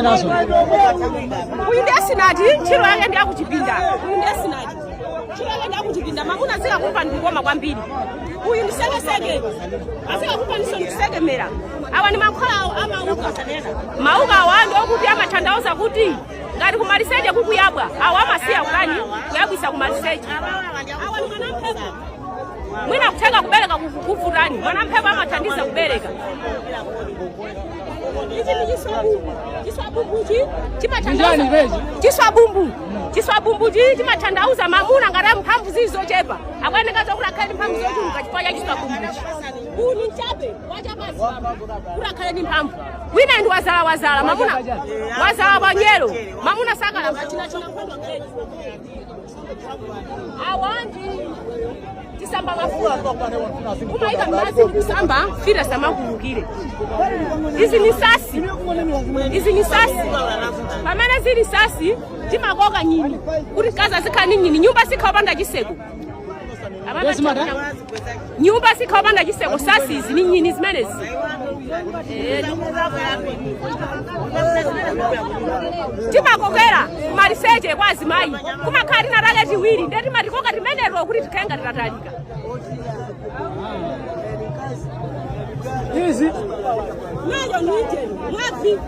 nazo uyu ndi esinati ntchito yake ndi yakuchipinda uyu ndi esinati ntchito yake ndi yakuchipinda mamuna azikakupa ndi kukoma kwambiri uyu ndi sekeseke azikakupa ndiso ndi kusekemera awa ndi mankhwala a mauka mauka awa ndi okuti amathandauza kuti ngati kumaliseche kukuyabwa awa amasiya kutani kuyabwisa kumaliseche awa ndi mwanamphepo mwina kutheka kubereka kukuvutani mwanamphepo amathandiza kubereka Ichi ndi chiswabumbu. Chiswabumbuchi chimathandauza chiswabumbu. Chiswabumbuchi chimathandauza mamuna ngati ali mphamvu zili zochepa. Akuyeneka zokuti akhale ndi mphamvu zochuluka chifukwa cha chiswabumbuchi. Uwu ni mchape wachapazi kuti akhale ndi mphamvu. Wina ndi wazala wazala mamuna wazala wanyelo mamuna sakalamba china china nkhondo ngeni. kumaika mmadzi kusamba mfiti samakuulukira izi ni sasi izi ni sasi pamene zili sasi timakoka nyini kuti mkazi azikhala ni nyini nyumba sikhala yopanda chiseko nyumba sikhala yopanda chiseko sasizi ni nyini zimenezi Eh, timakokera kumaliseche kwa azimayi kumakhala tinatake tiwiri nde timatikoka timeneto kuti tikhale ngati tatalika izi Mwazo nije, mwazi.